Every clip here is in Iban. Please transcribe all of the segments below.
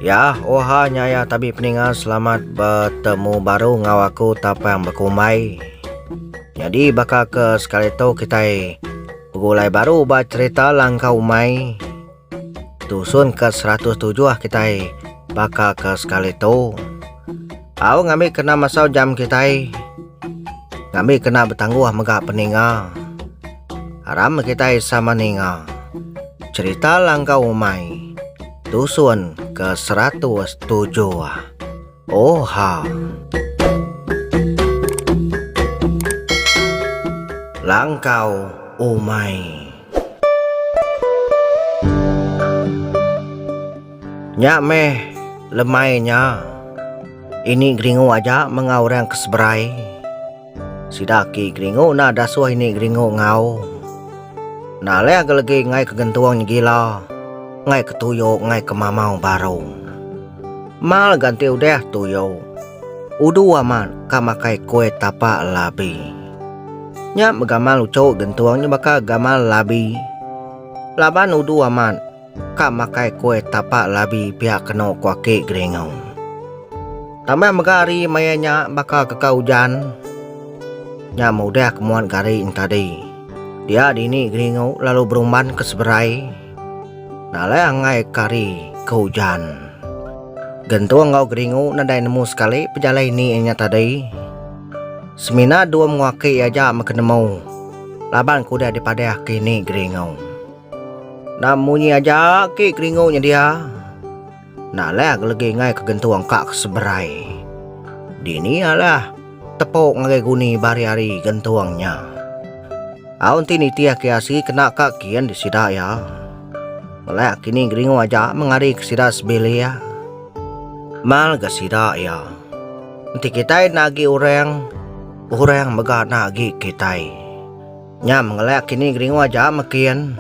Ya, oha nyaya tabi peninga selamat bertemu baru ngau aku tapang bekumbai. Jadi baka ke sekali tu kitai begulai baru ba cerita langkau umai. Tusun ka seratus tujuh kitai baka ka sekali tu. Au ngambi kena masau jam kitai. Ngambi kena betangguh mega peninga. Aram kitai sama ninga. Cerita langkau umai. Tusun ka seratus tujuh. Oh ha. Langkau umai. Nya meh lemai nya. Ini geringu aja mengau orang ke seberai. Sida aki geringu enda dasuh ini geringu enggau. Enda alih agi legi ngai ke gentung nyegila, ngai ke tuyo ngai ke mamau barung. Mal ganti udah tuyo. Udu amat ka makai kue tapa labi. Nya begamal uchu gentung nya baka gamal labi. Laban udu amat. Ka makai kue tapak labi pia keno ku aki Geringo. Tambah mega ari maya nya baka keka ujan nya meudah ke muan gari entadi. Dia dini Geringo lalu berumban ke seberai nalai angai ke hari ke ujan. Gentung enggau Geringo nadai nemu sekali pejalai ni nya tadi. Semina dua mengu aki iya aja mega nemu laban ke udah dipadah ke ini Geringo. Enda munyi aja agi keringu nya dia. Enda leh agi legi ngai ke gentung ka ke seberai. Dini alah tepuk ngagai guni ba hari-hari gentung nya. Au enti nitih agi asi kena ka kin di sida iya. Ngelak kini geringu aja mengari ke sida sebilik. Mal ga sida iya. Enti kitai enda agi orang, orang mega enda agi kitai. Nya mengelak kini geringu aja mekin.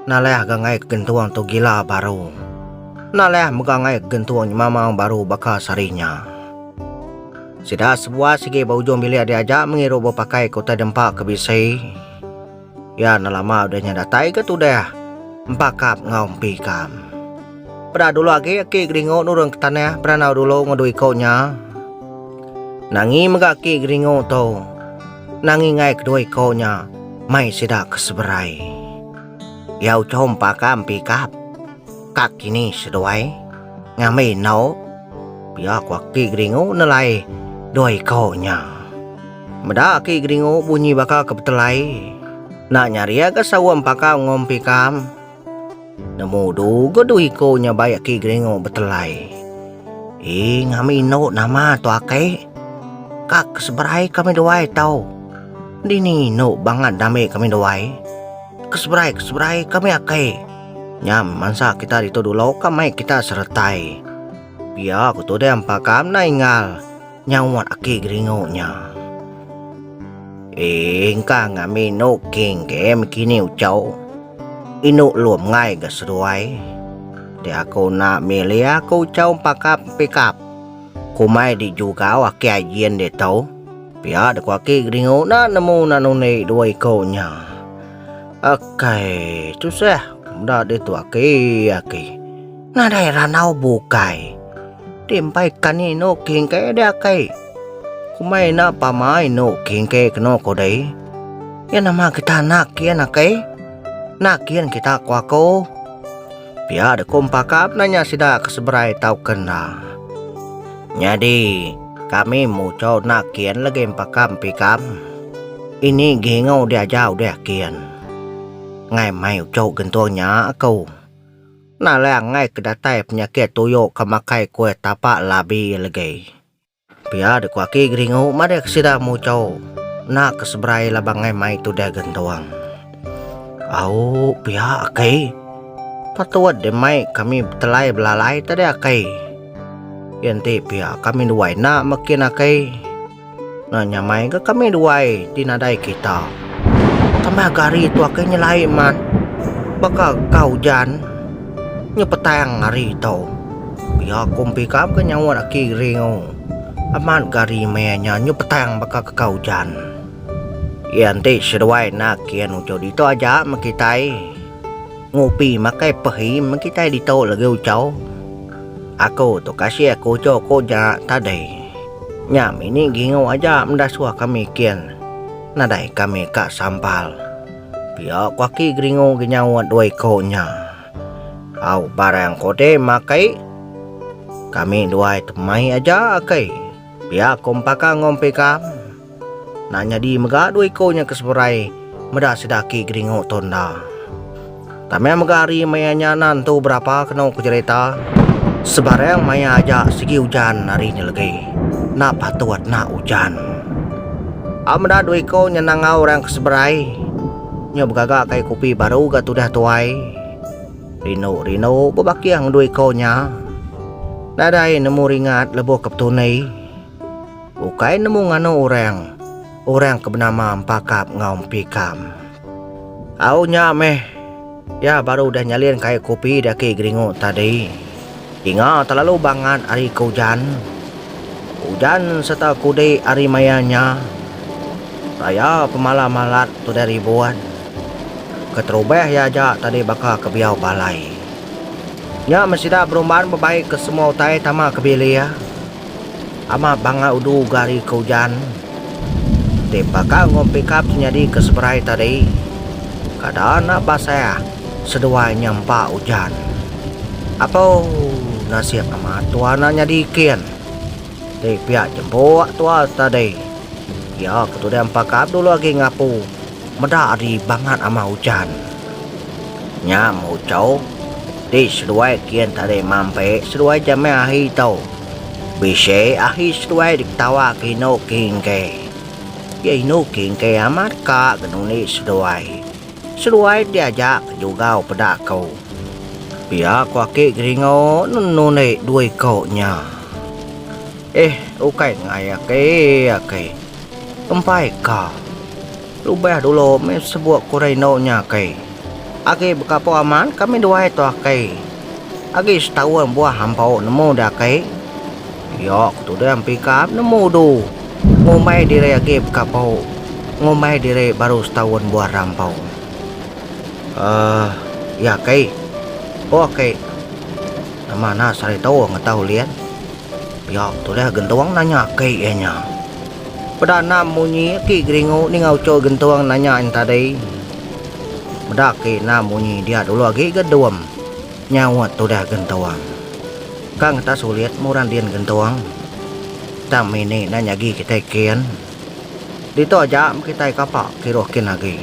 Naleh ga ngai gentung tu gila baru. Naleh mega ngai gentung nyemamang baru baka sehari nya. Sida sebuah sigi ba ujung bilik diaja mengirup bepakai ke utai dempa ke bisi. Ya enda lama udah nya datai ga tudah empakap enggau empikam. Peda dulu agi aki geringu nurun ke tanah beranau dulu enggau dua iko nya. Nangi mega aki geringu tu. Nangingai kedua iku nya mai sida ke seberai. Iya uchu empa ka empi ikap. Ka kini seduai ngambi endu. Pia ku aki Geringu nelai dua iku nya. Meda aki Geringu bunyi baka ke betelai. Enda nyari aga sawa empa ka engu empi ikam. Nemu du ga du iko nya baik ki geringo betelai. Ii ngami endo nama tu akei. Ka ke seberai kami duai tau. Dini endo bangat dami kami duai. Ke seberai ke seberai kami akei. Nya mansa kita ditu dulo ka mai kita seretai. Pia ku tuding pakam nai enggau. Nyauat aki geringu nya. Ee engkang ami enu king ke miki ni ucau. Indu lum ngai ga seduai. Ti aku enda milih aku ucau empakap empikap. Kumai di jugau aki ajin ditu. Pia de ku aki geringu enda nemu anak nundi dua iko nya. Akai tusah meda ditu aki aki. Nadai randau bukai. Ti empai kani inu kingkei deh akai. Kumbai enda pama inu kingkei kenu ko dei. Iya nama kita anak kian akai. Enda kian kita ko aku. Pia deh ko empakap nanya sida ke seberai tau ke enda. Nyadi kami muchau enda kian legi empakap empikam. Ini gingau diaja udah kian. Ngai mai uchu gentung nya aku. Nalang ngai ke datai penyakit tuyo ke makai kuih tapa labi legi. Pia de ko aki geringu madah ke sida mucho ena ke seberai laban ngai mai tudah gentung. Au pia aki patut deh mai kami betelai belalai tadi aki. Iya enti pia kami dua enda meki aki. Nah nyamai ga kami duai di nadai kita. Kami aga hari tu akai nyelai mat. Baka ga ujan nya petang hari tu. Pia ku empi ka mega nyaut aki Riu. Amat ga hari meh nya nyu petang baka ka ujan. Iya enti seduai enda kian uchu ditu aja meh kitai. Ngupi makai pehim kitai ditu lagi ucau. Aku tu kasih aku uco ko ja tadi. Nya mini gingu aja meda suah kami kin nadai kami ka sampal. Pia ko aki geringu gi nyaut dua iko nya. Au barang kode makai kami duai tu mai aja aki pia ko mpaka ngumpi kam. Enda nyadi mega dua iko nya ke seberai meda sida aki geringu tu enda. Tama mega hari maya nya nan tu berapa keno ku jerita sebarang maya aja sigi ujan hari nya legi enda patut enda ujan. Au meda dua iko nya nangau orang ke seberai nyu begaga kai kopi baru ga tudah tuai. Rindu rindu bebakih ngan dua iko nya nadai nemu ringat lebuh ke petuni. Ukai nemu nganu orang, orang ke benama Empakap enggau Empikam. Au nya meh, iya baru udah nyalin kai kopi di aki Geringu tadi. Dinga telalu bangat ari ke ujan. Ujan sereta kudi ari maya nya. Raya pemalam malat tudai ribut. Keterubah iya aja tadi baka ke biau balai. Nya meh sida berumban bebai ke semua utai tama ke bilik. Amat bangga udu ga ari ke ujan ti baka enggau pikap ti nyadi ke seberai tadi. Kada enda basah seduai nya empa ujan. Apu nasib amat tua enda nyadi kin. Ti pia jempuk tua tadi. Iya ke tudan pakap dulu agi ngapu. Meda ari bangat amat ujan. Nya muchau ti seduai kin tadi mampi seduai ja meh ahi tu. Bisi ahi seduai diketawa ke inu kingke. Iya inu kingke amat ka genundi seduai. Seduai ti aja ke jugau peda ku. Pia ku aki Geringo nundi dua iko nya. Eh ukai ngai aki aki. Kempai ka. Lubah dulu mih sebuk kuri endo nya kai. Agi bekapo amat kami duai tu akai. Agi setaun buah ampau nemu dah kai. Iya ku tudah empikap nemu du. Ngumbai diri agi bekapo. Ngumbai diri baru setaun buah rampau. Uhh iya kai. Ko akai. Nama anak saritu ngetau Lien. Pia tulih Gentung nanya aki iya nya. Peda anam munyi aki Geringu ninga uchu Gentung nanya iya tadi. Meda aki anam munyi dia dulu agi ga dum, nyaut tulih Gentung. Ka ngetas sulit murang din Gentung. Tang mini enda nyagi kitai kin. Ditu aja mkitai kapa kiruh kin agi.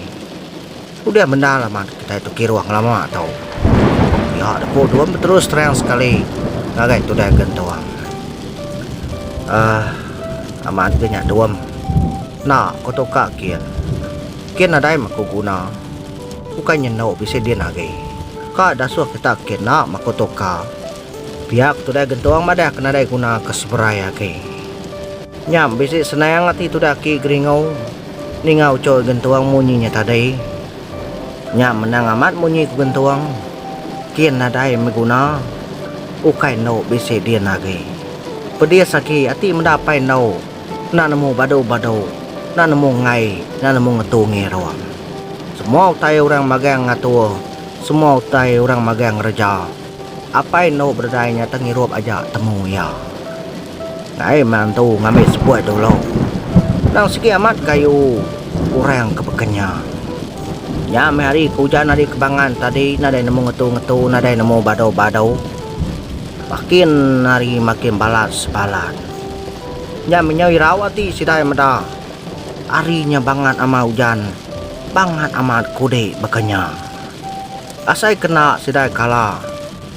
Udah bendar lama kitai tu kirung lama tu. Piak da ku dua beterus terang sekali ngagai tudai gentung. Aah amat ga nya dua. Enda ku tu ka kin. Kin nadai mah ku guna. Bukai nyendu bisi din agi. Ka dasuh kita kin enda mah ku tu ka. Piak tudai gentung madah ke nadai guna ke seberai agi. Nya bisi senang ati tudai aki geringu. Ninga ucul gentung munyi nya tadi. Nya menang amat munyi ku gentung. Kin nadai meh guna. Ukai endo bisi din agi. Pedis agi ati meda apai endo. Enda nemu badu-badu. Enda nemu ngai. Enda nemu ngetu ngirung. Semua utai orang magang ngatur. Semua utai orang magang ngereja. Apai endu berdai nya tengirup aja temu iya. Ngai menantu ngambi sepuh dulu. Endang sigi amat kayu orang ke beken nya. Nya meh hari ke ujan ari kebangan tadi nadai nemu ngetu-ngetu nadai nemu badu-badu. Makin hari makin balat sebalat. Nya meh nyau irau ati sidai meda hari nya bangat amat ujan, bangat amat kudi beken nya. Asai kena sidai kala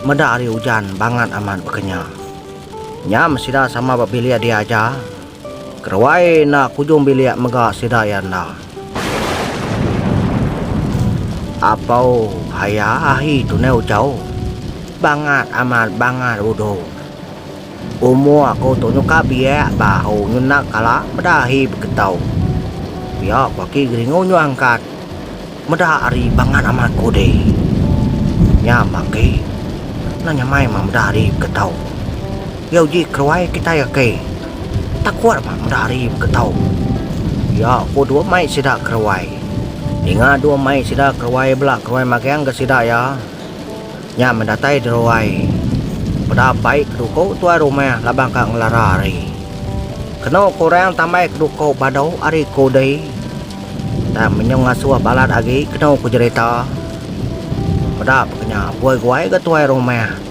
meda ari ujan bangat amat bekenya. Nyam sida sama ba bilik dia aja. Keruai enda kujung bilik mega sida iya enda. Apau haya ahi tunai ujau. Bangat amat bangat udu. Umur aku tu nyuka biak ba ahu nyu enda kala meda ahi begetau. Pia ku aki geringu nyu angkat. Meda ari bangat ama aku deh. Nya mah agi nah nyamai mah meda ari begetau. Iya uji keruai kitai agi. Takut mah meda ari begetau. Iya ku dua mai sida keruai. Ninga dua mai sida keruai bela keruai magang ga sida iya. Nya medatai deruai. Peda bai ke duku tuai rumah laban ka ngelara ari. Kenu ke orang tambai ke duku badu ari ke udi. Tang menyung ngasuh balat agi kenu ke jerita. Peda pe ke nya buai guai ga tuai rumah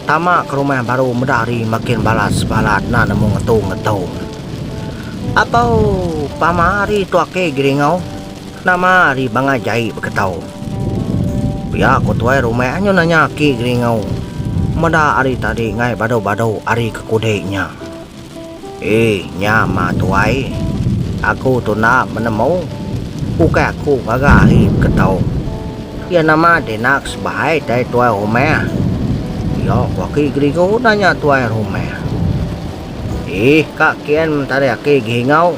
tama ke rumah baru meda ari makin balas balat na nemu ngetu ngetu. Akou pama ari tu ake Giringau. Nama ari bangah jai beketau. Pia ko tuai rumah anyu nanya aki Geringau meda ari tadi ngai badu-badu ari ke kudi nya. Ee nya mah tuai, aku tu enda menemu, ukai aku ngaga ari beketau. Iya nama dinak sebaik dai tuai rumah? Pia ko aki Geringau nanya tuai rumah. Ee ka kien mentarik aki Geringau.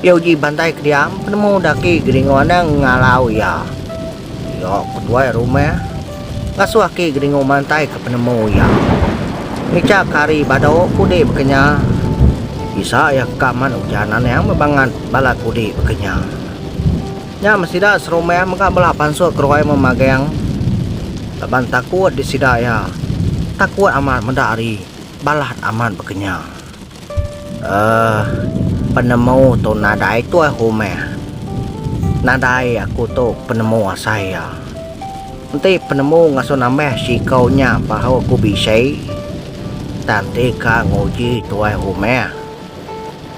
Iya uji bantai ke diam, penemu daki Geringu anang ngalau iya. Iya ke tuai rumah, ngasuh aki Geringu mantai ke penemu iya. Ngicha ke hari badu kudi bekenya, bisa iya ke kaman ujan anang bebangat bala kudi bekenya. Nya meh sida serumah mega bela pansut keruai memagang laban takut di sida iya. Takut amat meda hari balat amat bekenya. Uh, penemu tu nadai tuai humah. Nadai aku tu penemu asai iya. Enti penemu ngasuh nambah siko nya baru aku bisi, tang ti ka nguji tuai humah.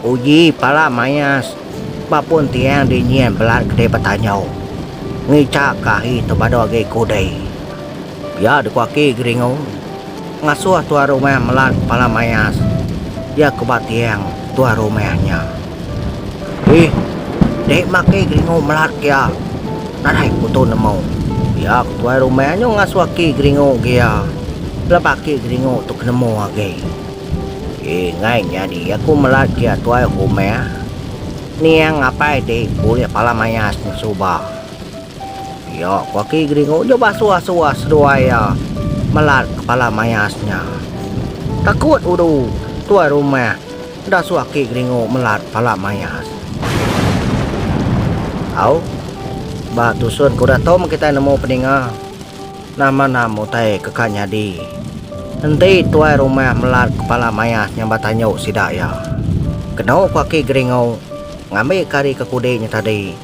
Uji pala mayas ba pun tiang di nyin belat ke dei betanyo. Ngicha ke ahi tu badu agi ku dei. Pia dikuaki Geringo. Ngasuh tuan rumah melan kepala mayas iya ke ba tiang tuan rumah nya. Dih, deh maki geringu melat ke iya nadai kutu nemu. Iya ke tuai rumah nyu ngasuh aki geringu ke iya laban aki geringu tu ke nemu agi. Ingai nyadi aku melat ke iya tuai rumah, niang apai dih bulih pala mayas nyu suba. Iya ku aki Geringu nyau basuh asuh seduai iya melat kepala mayas nya. Takut udu tuai rumah enda suh aki Geringu melat kepala mayas. Au, ba tusun ke udah tom kitai nemu peninga, nama nam utai ke ka nyadi. Enti tuai rumah melat kepala mayas nya ba tanyu sida iya. Keno ku aki Geringu ngambika ari ke kudi nya tadi.